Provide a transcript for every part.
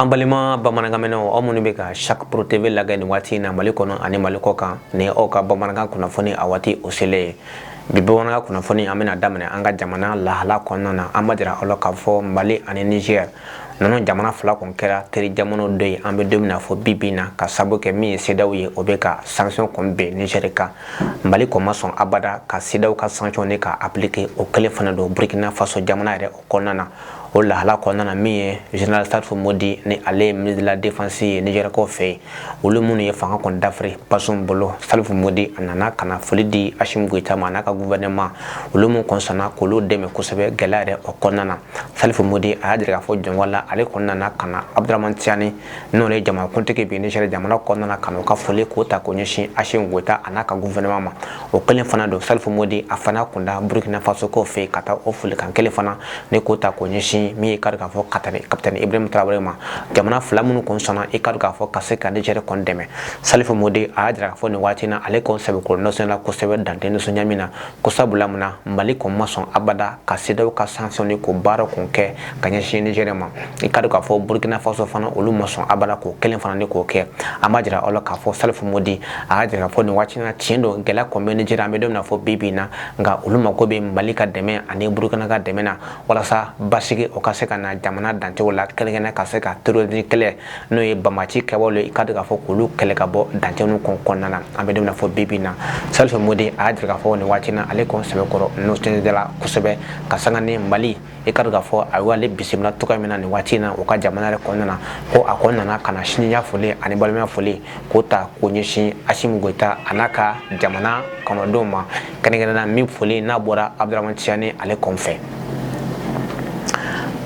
An balima bamanankanmɛnnaw aw minnu bɛ ka sari pro TV lajɛ ni waati in na mali kɔnɔ ani mali kɔ kan ni aw ka bamanankan kunnafoni a waati o selen ye bi bamanankan kunnafoni an bɛna daminɛ an ka jamana lahala kɔnɔna na an b'a jira aw la k'a fɔ mali ani nizɛr ninnu jamana fila kɔni kɛra teri jamana dɔ ye an bɛ don min na fɔ bi bi in na k'a sabu kɛ min ye sedaw ye o bɛ ka sanction kɔni bin nizɛri kan mali kɔni ma sɔn abada ka sedaw ka sanction ne k'a appliquer o kelen fana don burkina faso jamana yɛrɛ o kɔnɔna na o lahala kɔnɔna na min ye general salifu modi ni ale ye ministre de la defense ye nizɛrikaw fɛ yen olu minnu ye fanga kɔni dafiri bazum bolo salifu modi a nana ka na foli di asimu goyita ma a n'a ka guvɛnɛma olu minnu kɔn sɔnna k'olu dɛmɛ kosɛbɛ gɛlɛya yɛrɛ o kɔnɔna na salifu modi a y'a jira k'a fɔ jɔnwa la ale kɔni nana ka na abdrahman tiyani n'o ye jamanakuntigi bi nizɛri jamana kɔnɔna na ka na u ka foli k'o ta k'o ɲɛsin asimu goyita a n'a ka guvɛnɛma ma o kelen fana don salifu modi a fana kun da burkina faso kɔn fɛ ka taa o folikan kelen fana ne k'o ta k'o ɲɛsin min ye kari k'a fɔ katani kapitɛni ibrahim tarawele ma jamana fila minnu kɔni sɔnna i kari k'a fɔ ka se ka nizɛri kɔni dɛmɛ salifu modi a y'a jira k'a fɔ nin waati na ale kɔni sɛbɛkɔrɔ nisɔndiyara kosɛbɛ dan tɛ nisɔndiya min na ko sabula mun na mali kɔni ma sɔn abada ka sedaw ka sanction ne k'o baara kɔn kɛ ka ɲɛsin nizɛri ma i ka dɔn k'a fɔ burkina faso fana olu ma sɔn abada k'o kelen fana ni k'o kɛ an b'a jira aw la k'a fɔ salifu modi a y'a jira k'a fɔ nin waati na tiɲɛ don gɛlɛya kɔn bɛ nizɛri an bɛ don min na fɔ bi bi in na nka olu mako bɛ mali ka dɛmɛ ani burkina ka dɛmɛ na walasa basigi o ka se ka na jamana dancɛw la kɛrɛnkɛrɛnna ka se ka terrorisi kɛlɛ n'o ye banbaganci kɛwale ye i ka dɔn k'a fɔ k'olu kɛlɛ ka bɔ dancɛw kɔn kɔnɔna na an bɛ don min na fɔ bi bi in na salifu modi a y'a jira k'a fɔ nin waati na ale kɔn sɛbɛkɔrɔ nisɔndiyara kosɛbɛ ka sanga ni mali i kari k'a fɔ a y'ale bisimila cogo min na nin waati in na u ka jamana yɛrɛ kɔnɔna na ko a kɔni nana ka na sinjiya foli ani balimaya foli k'o ta k'o ɲɛsin asimu goyita a n'a ka jamana kɔnɔdenw ma kɛrɛnkɛrɛnna min foli n'a bɔra abdrahman tiyani ale kɔn fɛ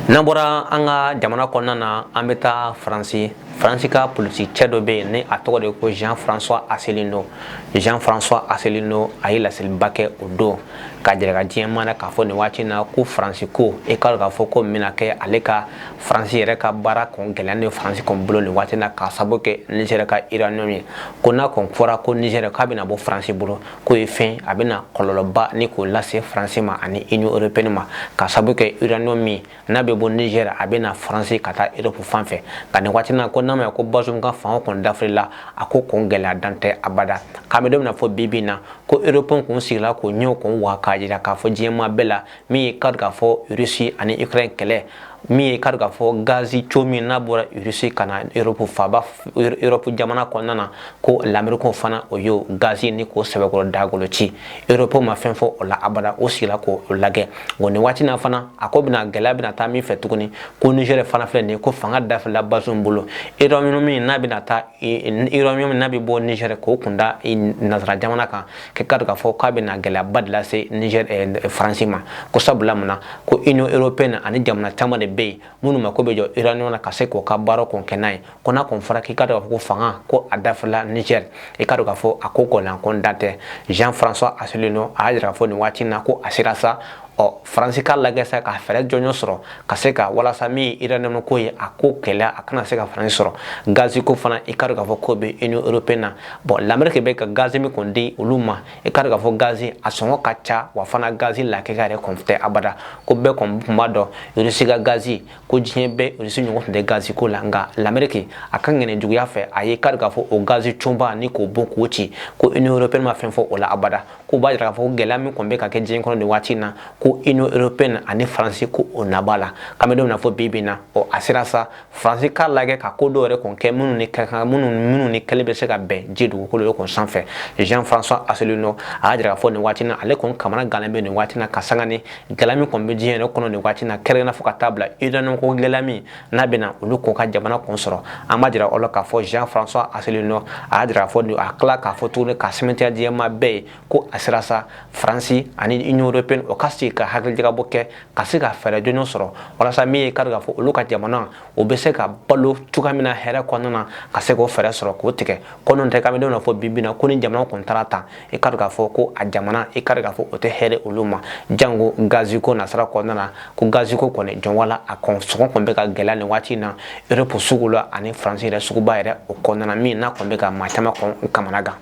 n'an bɔra an ka jamana kɔnɔna na an bɛ taa faransi faransi ka politikicɛ dɔ bɛ yen ni a tɔgɔ de ko jean françois asselineau jean françois asselineau a ye laseliba kɛ o don k'a jira diɲɛ maa na k'a fɔ nin waati na ko faransi ko i kari k'a fɔ ko min n'a kɛra le ka faransi yɛrɛ ka baara kɔn gɛlɛya ni faransi kɔn bolo nin waati na k'a sabu kɛ nizɛri ka uranium ye ko n'a kɔn fɔra ko nizɛri k'a bɛna bɔ faransi bolo k'o ye fɛn a bɛna kɔlɔlɔba ni k'o lase faransi ma ani union européenne ma k'a sabu kɛ uranium min n'a bɛ bɔ nizɛr a bɛ na faransi ka taa eropu fan fɛ nka nin waati na ko n'an b'a ye ko bazum ka fanga kɔni dafirila a ko kɔni gɛlɛya dan tɛ abada k'an bɛ don min na fɔ bi bi in na ko eropu kɔni sigila k'o ɲɛw kun wa k'a jira k'a fɔ diɲɛmaa bɛɛ la min ye kari k'a fɔ rusi ani ukraine kɛlɛ min ye kari k'a fɔ gazi tiyo min n'a bɔra rusi ka na eropu faba eropu jamana kɔnɔna na ko lamerikaw fana o y'o gazi ni k'o sɛbɛkɔrɔ dagolo ci eropo ma fɛn fɔ o la abada o sigila k'o lagɛ nka nin waati na fana a ko bɛna gɛlɛya bɛna taa min fɛ tuguni ko nizɛri fana filɛ nin ye ko fanga dafirila bazum bolo iranium min n'a bɛna taa iranium min n'a bɛ bɔ nizɛri k'o kun da nansara jamana kan k'i k'a dɔn k'a fɔ k'a bɛna gɛlɛyaba de lase nizɛri faransi ma ko sabula mun na ko union européenne ani jamana caman de bɛ yen minnu mako bɛ jɔ iranium na ka se k'o ka baara kɔn kɛ n'a ye ko n'a kɔn fɔra k'i k'a dɔn k'a fɔ ko fanga ko a dafirila niger i k'a dɔn k'a fɔ a ko gɔlanko dan tɛ jean françois asselineau a y'a jira k'a fɔ nin waati na ko a sera sa ɔ faransi k'a lagɛ sa ka fɛɛrɛ jɔnjɔn sɔrɔ ka se ka walasa min ye iranium ko ye a ko gɛlɛya a kana se ka faransi sɔrɔ gazi ko fana i k'a dɔn k'a fɔ k'o bɛ union européenne na bɔn lamɛrike bɛ ka gazi min kɔni di olu ma i k'a dɔn k'a fɔ gazi a sɔngɔ ka ca wa fana gazi lakika yɛrɛ kɔn tɛ abada ko bɛɛ kɔn tun b'a dɔn irisi ka gazi ko diɲɛ bɛɛ irisi ɲɔgɔn tun tɛ gazi ko la nka lameriki a ka ŋaniya juguya fɛ a ye kari k'a fɔ o gazi tiyoba ni k'o bon k'o ci ko union européenne ma fɛn fɔ o la abada ko b'a jira k'a fɔ ko gɛlɛya min kɔn bɛ ka kɛ diɲɛ kɔnɔ nin waati na ko union européenne ani faransi ko o nabara k'an bɛ don min na fɔ bi bi na ɔ a sera sa faransi k'a lajɛ ka ko dɔw yɛrɛ kɔn kɛ minnu ni ka kan minnu minnu ni kɛli bɛ se ka bɛn ji dugukolo de kɔn sanfɛ jean françois asselineau a y'a jira k'a fɔ nin waati na ale kɔni kamana gannen bɛ nin waati na ka sanga ni gɛlɛya min kɔni bɛ diɲɛ yɛrɛ kɔnɔ nin waati na kɛrɛnkɛrɛn fo ka taa bila iranium ko gɛlɛya min n'a bɛna olu k'o ka jamana kɔn sɔrɔ an b'a jira aw la k'a fɔ jean françois asselineau a y'a jira k'a fɔ a tila k'a fɔ tuguni k'a sɛmɛntiya jama bɛɛ ye ko a sera sa faransi ani union européenne o ka se ka hakilijakabɔ kɛ ka se ka fɛɛrɛ jɔnjɔn sɔrɔ walasa min ye kari k'a fɔ olu ka jamana o bɛ se ka balo cogoya min na hɛrɛ kɔnɔna na ka se k'o fɛɛrɛ sɔrɔ k'o tigɛ ko n'o tɛ k'an bɛ don na fɔ bi bi na ko ni jamana kɔn taara tan i kari k'a fɔ ko a jamana i kari k'a fɔ o tɛ hɛrɛ olu ma jango gazi ko nasira kɔnɔna na ko gazi ko kɔni jɔnwa la a kɔn sɔngɔ kɔni bɛ ka gɛlɛya nin waati in na europe sugu la ani faransi yɛrɛ suguba yɛrɛ o kɔnɔna na min n'a kɔni bɛ ka maa caman kɔn kamana gan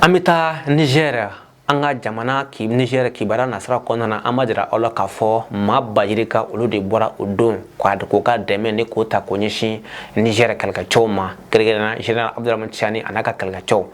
an bɛ taa nizɛri an ka jamana nizɛri kibaruya nasira kɔnɔna na an b'a jira aw la k'a fɔ maa ba yirika olu de bɔra o don k'o ka dɛmɛ ni k'o ta k'o ɲɛsin nizɛri kɛlɛkɛcɛw ma kɛrɛnkɛrɛn zenerali abudurahamani cani a n'a ka kɛlɛkɛcɛw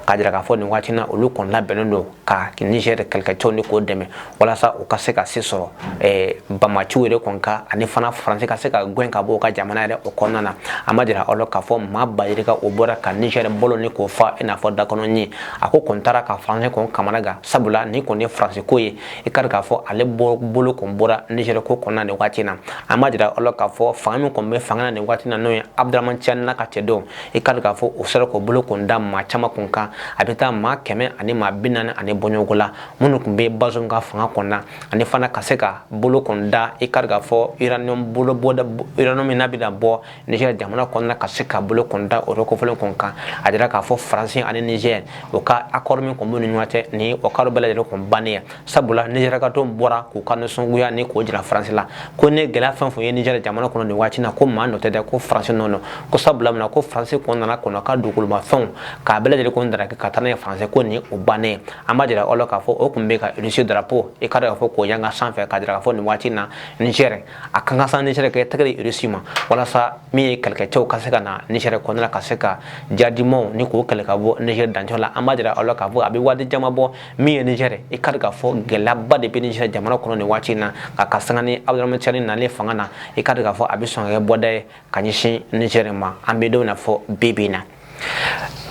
k'a jira k'a fɔ nin waati na olu kɔni labɛnnen don ka niger kɛlɛkɛcɛw ni k'o dɛmɛ walasa u ka se ka se sɔrɔ eh, banbaanciw yɛrɛ kɔni kan ani fana faransi ka se ka gɛn ka bɔ u ka jamana yɛrɛ o kɔnɔna na an b'a jira aw la k'a fɔ maa ba yirika o bɔra ka niger bɔlɔn ni k'o fa i n'a fɔ da kɔnɔ ɲin a ko kɔni taara ka faransi kɔni kamana gan sabula min kɔni ye faransi ko ye i kari k'a fɔ ale bolo kɔni bɔra niger ko kɔnɔna nin waati na an b'a jira aw la k'a fɔ fanga min kɔni bɛ fanga na nin waati na n'o ye abdurahaman tiyani n'a ka cɛdenw i ka k'a fɔ o sera k'o bolo kun da maa caman kun kan a bɛ taa maa kɛmɛ ani maa bi naani ani bɔɲɔgɔnko la minnu tun bɛ bazum ka fanga kɔnɔna ani fana ka se ka bolo kun da i ka k'a fɔ uranium bolo bɔda uranium min n'a bɛna bɔ Niger jamana kɔnɔna ka se ka bolo kun da o kofɔlen kun kan a jira k'a fɔ faransi ani Niger o ka accord min tun b'u ni ɲɔgɔn cɛ ni o accord bɛɛ lajɛlen kun bannen sabula nijɛrikaw tun bɔra k'u ka nisɔngoya ni k'o jira faransi la ko ni gɛlɛya fɛn fɛn ye nijɛri jamana kɔnɔ nin waati na ko maa nɔ tɛ dɛ ko faransi nɔ don ko sabula min na ko faransi tun nana k'olu ka dugukolomafɛnw k'a bɛɛ lajɛlen ko n daraki ka taa n'a ye faransi ko nin o bannen an b'a jira aw la k'a fɔ o tun bɛ ka irisi darapo i ka dɔn k'a fɔ k'o yanga sanfɛ k'a jira k'a fɔ nin waati na nijɛri a ka kan sa nijɛri k'i tɛgɛ di irisi ma walasa min ye kɛlɛkɛcɛw ka se ka na nijɛri kɔnɔna la ka se ka jadimaw ni k'o kɛlɛ ka bɔ nijɛri dancɛ la an b'a jira aw la k'a fɔ a bɛ waati caman bɔ min ye Niger ye i ka k'a fɔ gɛlɛyaba de bɛ Niger jamana kɔnɔ nin waati in na nka ka sanga ni Abdramane Tiani nalen fanga na i ka k'a fɔ a bɛ sɔn ka kɛ bɔda ye ka ɲɛsin Niger ma an bɛ don na fɔ bi bi in na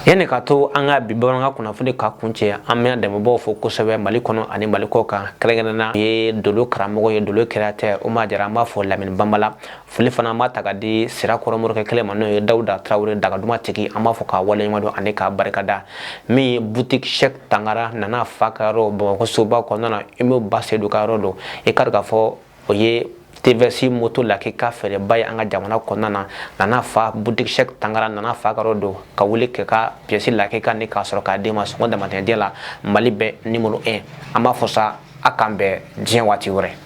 yanni ka to an ka bi bamanankan kunnafoni ka kuncɛ an bɛ dɛmɛbaaw fo kosɛbɛ mali kɔnɔ ani mali kɔkan kɛrɛnkɛrɛnna ye dolo karamɔgɔ ye dolo kɛra tɛ o ma jara an b'a fo lamini banbala foli fana an b'a ta ka di sirakɔrɔ morikɛ kelen ma n'o ye dawuda tarawele dagaduma tigi an b'a fo k'a waleɲumandɔn ani k'a barikada min ye butiki sɛk tangara nana fa ka yɔrɔ bamakɔ soba kɔnɔna na immeuble ba sedu ka yɔrɔ don i ka k'a fɔ o ye tvs moto lakika feerebaa ye an ka jamana kɔnɔna na nana fa butiki sɛk tangara nana fa ka yɔrɔ don ka wuli k'i ka piyɛsi lakika ni k'a sɔrɔ k'a d'i ma sɔngɔ damatɛmɛ t'a la mali bɛɛ nimoro 1 an b'a fɔ sa a k'an bɛn diɲɛ waati wɛrɛ